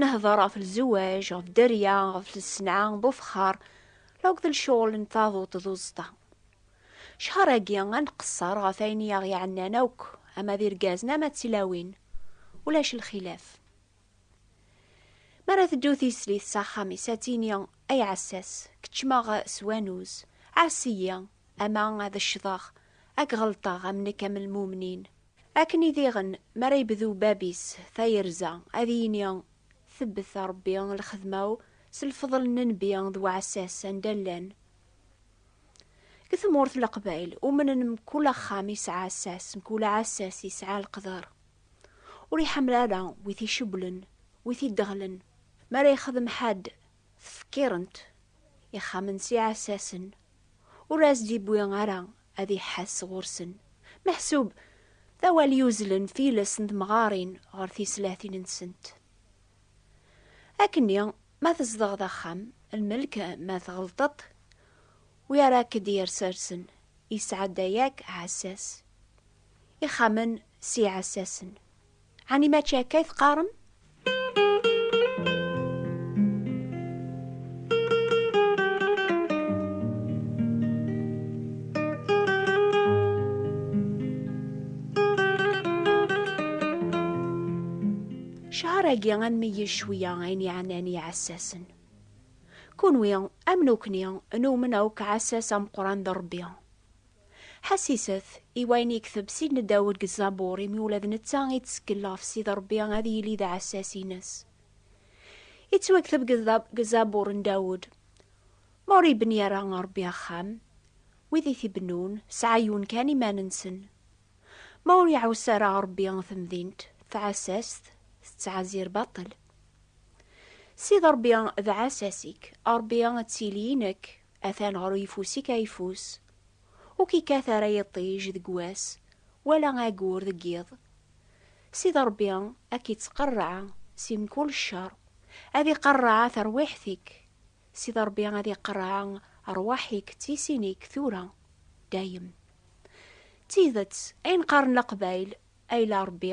Nehder ɣef lzewaj, ɣef dderya, ɣef lsenɛa, bufexxar, law d lecɣel n taduṭ d uẓeṭṭa. Cḥar-agi ad nqesser ɣef ayen i aɣ-iɛennan akk, ama d irgazen ama d tilawin, ulac lxilaf. Mi ara teddu tislit s axxam-is ad tini, Ay ɛessas, keččmeɣ s wanuz, ɛass-iyi, ama ad ccḍeɣ, ad k-ɣelṭeɣ am nekk am lmumnin. Akken i diɣen, mi ara yebdu bab-is tayerza, ad yini, Tebbet a Ṛebbi lxedma-w s lfeḍl n nnbi d uɛessas anda llan. Deg tmurt n Leqbayel, umnen mkul axxam yesɛa assas, mkul aɛessas yesɛa leqder. Ur iḥemmel ara wi t-icewwlen, wi t-ideɣlen. Mi ara yexdem ḥedd tfekkirent ixxamen s iɛessasen, ur as-d-yewwi ara ad iḥass ɣur-sen, meḥsub d awal yuzzlen tiles n temɣarin ɣer tislatin-nsent. Akkenni, ma tzedɣeḍ axxam, lmelk, ma tɣelṭeḍ, wi ara k-d-yersersen, yesɛedda yakk ɛessas. Ixxamen s iɛessasen. Ɛni mačči akka i teqqarem? Cceṛ-agi ad nmeyyez cwiya ayen yeɛnan i yiɛessasen. Kunwi, am nukni, newmen akk aɛessas ameqqran d Ṛebbi. Ḥassiset i wayen i yekteb Sidna Dawed deg Zzabur, imi ula d netta ittseggel ɣef Sidi Ṛebbi ad yili d aɛessas-ines. Yettwakteb deg Zzabur n Dawed, Ma ur ibni ara Ṛebbi axxam, wid i t-ibennun, sɛayyun kan iman-nsen. Ma ur iɛuss ara Ṛebbi temdint, taɛessast tettɛezzir baṭel. Sidi Ṛebbi d aɛessas-ik, Ṛebbi ad tili i nekk, Atan ɣer uyeffus-ik ayeffus. Ur k-ikkat ara yiṭij deg wass, wala ayyur deg yiḍ. Sidi Ṛebbi a k-ittqerreɛ si mkul cceṛ, ad iqerreɛ tarwiḥt-ik. Sidi Ṛebbi ad iqerreɛ ṛṛwaḥ-ik d tisin-ik tura, dayem. D tidet, ayen qqaren Leqbayel, Ayla Ṛebbi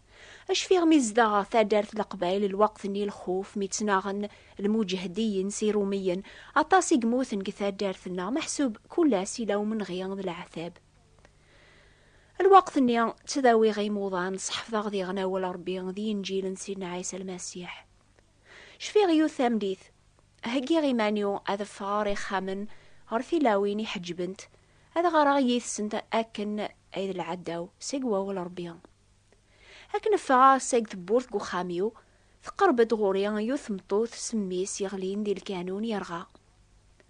Acfiɣ mi zdaɣeɣ taddart Leqbayel lweqt-nni lxuf mi ttnaɣen lmuǧehdiyen s irumiyen, aṭas i yemmuten deg taddart-nneɣ meḥsub kull ass yella umenɣi d leɛtab. Lweqt-nni ttdawiɣ imuḍan, sḥefḍeɣ diɣen awal n Rebbi d yinǧil n Sidna Ɛisa Lmasiḥ. Cfiɣ yiwet tameddit, heggiɣ iman-iw ad ffɣeɣ ɣer ixxamen, ɣer tilawin iḥeǧbent, ad ɣareɣ yid-sent akken ay d lɛadda-w seg wawal n Rebbi. Akken ffɣeɣ seg tewwurt deg uxxam-iw, teqreb-d ɣur-i yiwet tmeṭṭut s mmi-s yeɣlin di lkanun yerɣa.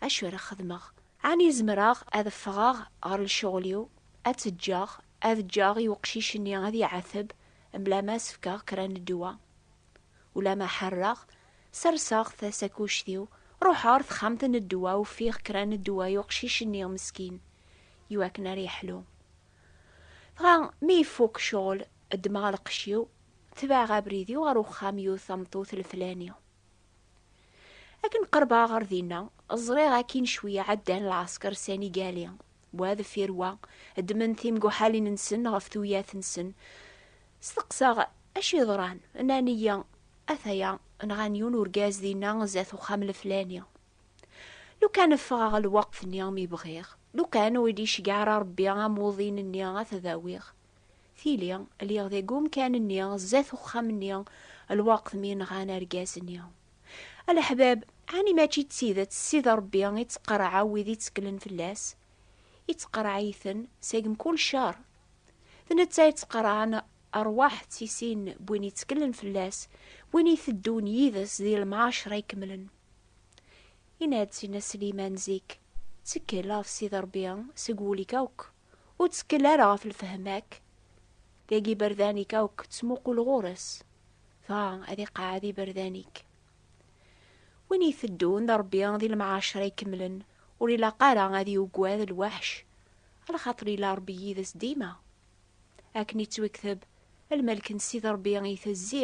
Acu ara xedmeɣ? Ɛni zemreɣ ad ffɣeɣ ɣer lecɣel-iw, ad tt-ǧǧeɣ, ad ǧǧeɣ i uqcic-nni ad iɛateb mebla ma as-fkeɣ kra n ddwa? Ulamma ḥarreɣ, serseɣ tasakuct-iw, ruḥeɣ ɣer texxamt n ddwa, ufiɣ kra n ddwa i uqcic-nni meskin, iwakken ara yeḥlu. Dɣa mi ifuk ccɣel, ddmeɣ lqecc-iw, tebɛeɣ abrid-iw ɣer uxxam yiwet tameṭṭut leflani. Akken qerbeɣ ɣer dinna, ẓriɣ akkin cwiya ɛeddan lɛesker sanigali, wa deffir wa, ddmen timguḥalin-nsen ɣef tuyat-nsen. Steqsaɣ acu yeḍran, nnan-iyi, Ataya, nɣan yiwen urgaz dinna zdat uxxam leflani. Lukan ffɣeɣ lweqt-nni mi bɣiɣ, lukan ur d-iceggeɛ ara Rebbi amuḍin-nni ad t-awiɣ. Tili, lliɣ deg umkan-nni zdat uxxam-nni lweqt mi nɣan argaz-nni. A leḥbab, ɛni mačči d tidet Sidi Rebbi ittqerreɛ wid itteklen fell-as? Ittqerreɛ-iten seg mkul ccer. D netta ittqerreɛen rrwaḥ d tisin n win itteklen fell-as, win iteddun yid-s di lemɛacer ikemlen. Yenna-d Sidna Sliman zik, Ttekkel ɣef Sidi Ṛebbi seg wul-ik akk, ur ttekkel ara ɣef lefhem-ak. Deg iberdan-ik akk ttmuqul ɣur-s, dɣa ad iqeɛɛed iberdan-ik. Win iteddun d Ṛebbi di lemɛaceṛ ikemlen ur ilaq ara ad yugad lweḥc, lxaṭer yella Ṛebbi yid-s dima. Akken ittwekteb, lmelk n Sidi Ṛebbi itezzi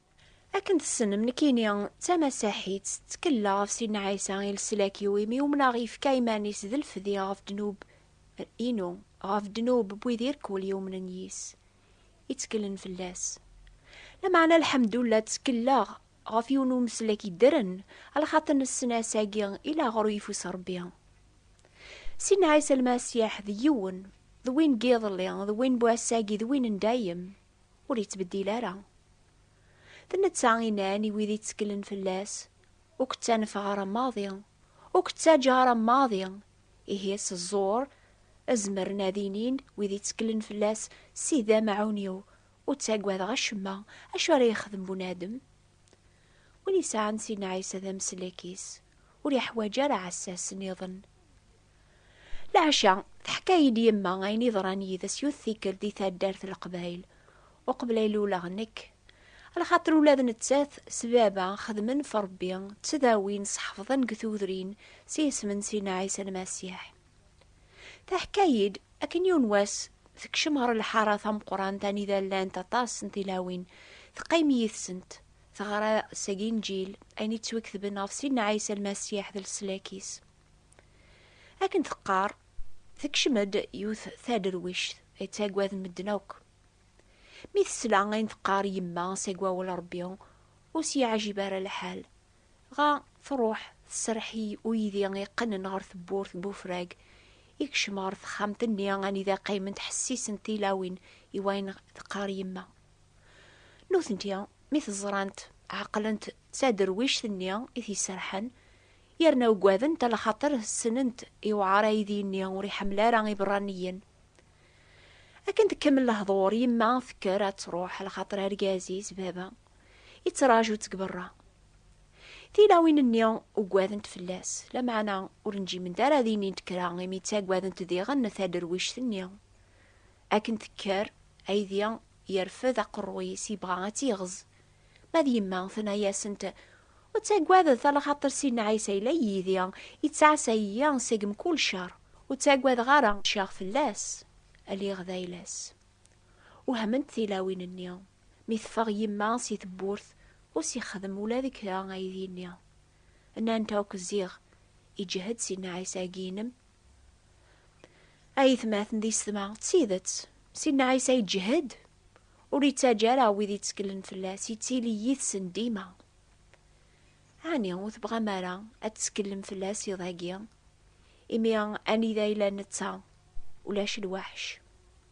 Akken tessnem, nekkini d tamasaḥit, ttkella ɣef Sidna Ɛisa i leslak-iw, imi umneɣ yefka iman-is d lfdi ɣef ddnub inu, ɣef ddnub n wid irkul yumnen yis, itteklen fell-as. Lameɛna lḥemdullah ttkelaɣ ɣef yiwen umeslek yeddren, alxater nessen ass-agi i laɣer ur ifus Rebbi. Sidna Ɛisa Lmasiḥ d yiwen, d win n yiḍelli, d win n wass-agi, d win n dayem. ur yettbeddil ara. D netta i nnan i wid itteklen fell-as, Ur k-ttanfeɣ ara maḍi, ur k-ttaǧǧa ara maḍi. Ihi s ẓẓur, zemren ad inin wid itteklen fell-as, Sidi d amɛun-iw, ur ttagadeɣ acemma, acu ara yexdem bunadem? Win yesɛan Sidna Ɛisa d ameslek-is, ur yeḥwaǧ ara ɛessas niḍen. Leɛca, teḥka-yi-d yemma ayen yeḍran yid-s yut tikkelt di taddart n Leqbayel, uqbel ay luleɣ nekk. Lxaṭer ula d nettat s baba xedmen ɣef Rebbi, ttdawin, sḥefḍen deg tudrin s yisem n Sidna Ɛisa Lmasiḥ. Teḥka-yi-d, akken yiwen wass, tekcem ɣer lḥara tameqqrant anida llant aṭas n tilawin, teqqim yid-sent, teɣra seg Inǧil, ayen yettwiketben ɣef Sidna Ɛisa Lmasiḥ d leslak-is. Akken teqqar, tekcem-d yiwet taderwict ay ttaggaden medden akk. Mi tesla ayen teqqar yemma seg wawal n Rebbi, ur s-yeɛjib ara lḥal, dɣa truḥ tserreḥ i uydi yeqqnen ɣer tewwurt n ufrag, yekcem ɣer texxamt-nni anida qqiment ḥessisent tilawin i wayen teqqar yemma. Nutenti, mi t-ẓrant, ɛeqlent d taderwict-nni i t-iserrḥen, yerna ugadent ala xaṭer ssnent iwɛer aydi-nni ur iḥemmel ara iberraniyen. Akken tkemmel lehḍur, yemma tekker ad truḥ ala xaṭer argaz-is, baba, yettraǧu-tt deg berra. Tilawin-nni ugadent fell-as, lameɛna ur njiment ara ad inint kra imi ttaggadent diɣen taderwict-nni. Akken tekker, aydi yerfed aqerruy-is yebɣa ad tt-yeɣz, ma d yemma tenna-asent Ur ttagadet a lxaṭer Sidna Ɛisa yella yid-i, yettɛassa-iyi seg mkul ccer. Ur ttagadeɣ ara, ččiɣ fell-as, lliɣ d ayla-s. Wehment tilawin-nni, mi teffeɣ yemma si tewwurt, ur s-yexdem ula d kra aydi-nni. Nnant akk ziɣ, Iǧhed Sidna Ɛisa-agi-inem, Ayetmaten d isetma, d tidet, Sidna Ɛisa iǧhed, ur ittaǧǧa ara wid itteklen fell-as, ittili yid-sen dima. Ɛni ur tebɣam ara ad tetteklem fell-as iḍ-agi, imi anida yella netta, ulac lweḥc?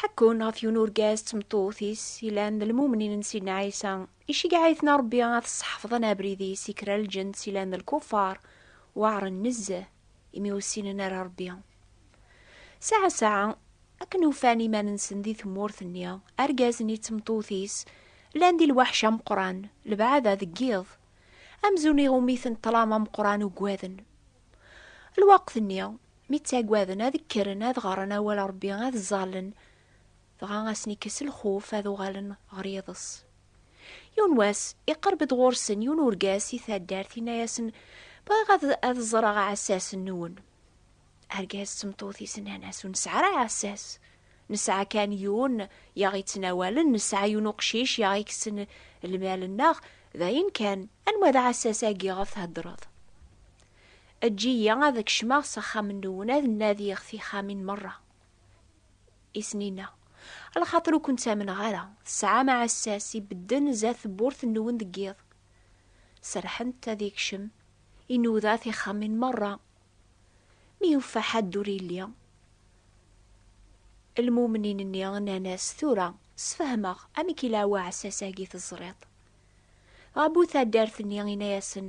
Ḥekkun ɣef yiwen urgaz d tmeṭṭut-is ilan d lmumnin n Sidna Ɛisa, iceggeɛ-iten Rebbi ad sseḥfḍen abrid-is i kra n lǧens ilan d lkuffar, weɛren nezzeh, imi ur ssinen ara Rebbi. Saɛa saɛa, akken ufan iman-nsen di tmurt-nni, argaz-nni d tmeṭṭut-is llan di lweḥc ameqqran, lebɛada deg yiḍ. Amzun iɣumm-iten ṭṭlam ameqqran uggaden. Lweqt-nni, mi ttagaden ad kkren ad ɣren awal Ṛebbi, ad ẓẓallen, dɣa a sen-ikkes lxuf, ad uɣalen ɣer yiḍes. Yiwen wass, iqerreb-d ɣur-sen yiwen urgaz si taddart, inna-yasen, Bɣiɣ ad ad ẓreɣ aɛessas-nwen. Argaz d tmeṭṭut-is nnan-as, Ur nesɛi ara aɛessas. Nesɛa kan yiwen i aɣ-yettnawalen, nesɛa yiwen uqcic i aɣ-ikessen lmal-nneɣ, d ayen kan. Anwa d aɛessas-agi ɣef theddreḍ? Eǧǧ-iyi ad kecmeɣ s axxam-nwen ad nadiɣ tixxamin merra i sen-inna, lxaṭer ur ken-ttamneɣ ara, tesɛam aɛessas ibedden zdat tewwurt-nwen deg yiḍ. Serrḥent ad yekcem, inuda tixxamin merra Mi yuffa ḥadd ur yelli, lmumnin-nni nnan-as, Tura, sfehmeɣ amek i la uɛessas-agi teẓriḍ. Dɣa bu taddart-nni inna-yasen,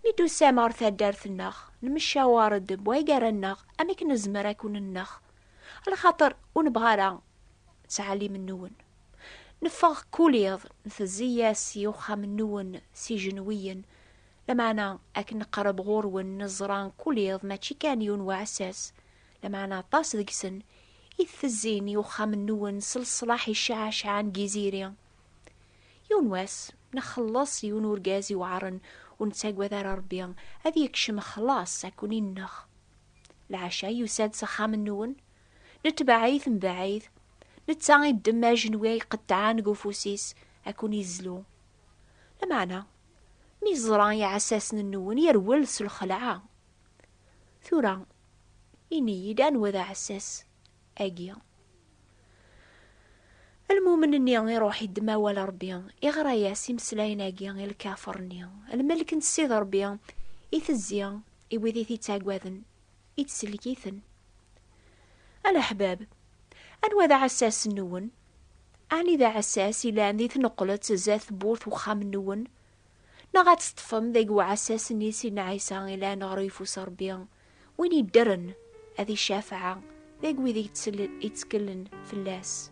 Mi d-tusam ɣer taddart-nneɣ, nmeccawer-d bwa gar-nneɣ amek nezmer ad ken-nneɣ, lxaṭer ur nebɣa ara ttɛellim-nwen. Neffeɣ kul iḍ, ntezzi-yas i uxxam-nwen s ijenwiyen, Lameɛna akken neqreb ɣur-wen neẓra kul iḍ mačči kan yiwen uɛessas, lameɛna aṭas deg-sen i ttezzin i uxxam-nnuwen s leṣlaḥ i cɛacɛa n Giziri. Yiwen wass, nxelleṣ yiwen urgaz iweɛren ur nettagad ara Rebbi, ad yekcem xlaṣ ad ken-ineɣ. Lɛecca yusa-d s axxam-nnuwen, netbeɛ-it mebɛid, netta iddem ajenwi ay iqeṭṭɛen deg ufus-is ad ken-izlu. Lameɛna Mi yeẓra iɛessasen-nwen, yerwel s lxelɛa. Tura, ini-yi-d anwa d aɛessas agi? Lmumen-nni iruḥ iddem awal Rebbi, iɣra-yas imeslayen-agi i lkafer-nni, Lmelk n Ssid Rebbi itezzi i wid i t-ittaggaden. i tsellek-iten. A leḥbab, anwa d aɛessas-nwen? Ɛni d aɛessas ilan di tneqqlet zdat tewwurt uxxam-nwen? Neɣ ad teṭṭfem deg uɛessas-nni sin Ɛisa ilan ɣer uyeffus Rebbi, win yeddren ad icafeɛ deg wid itteklen fell-as?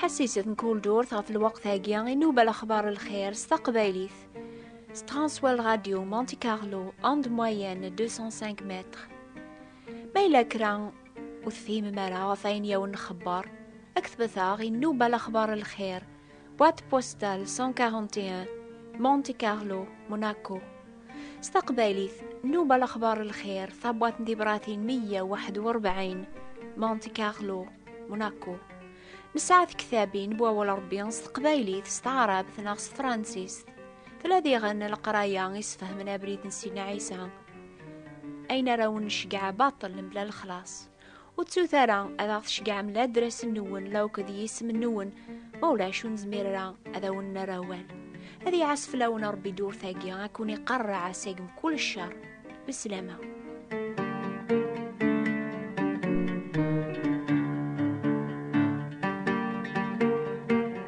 ḥassiset n kul durt ɣef lweqt-agi i nuba lexbar lxir s taqbaylit s Transworld Radio Monte Carlo and moyenne 205 mètres Ma yella kra ur tefhimem ara ɣef ayen i awen-nxebber, ad k-tbeteɣ i nnuba lexbar n lxir, boîte postale 141, Monte Carlo, Monaco. S taqbaylit, nnuba lexbar n lxir, tabwaṭ n tibratin 141, Monte Carlo, Monaco. Nesɛa tektabin bu awal Ṛebbi s teqbaylit, s taɛrabt neɣ s tefransist. Tella diɣen leqraya i sfehmen abrid n Sidna Ɛisa. ayen ara wen necgeɛ baṭel mebla lexlaṣ. Ur ttut ara ad aɣ-tceggɛem la adres-nwen la akk d yisem-nwen, ma ulac ur nezmir ara ad awen-nerr awal. Ad iɛas fell-awen Ṛebbi ddurt-agi, ad ken-iqerreɛ seg mkul cceṛ. Beslama.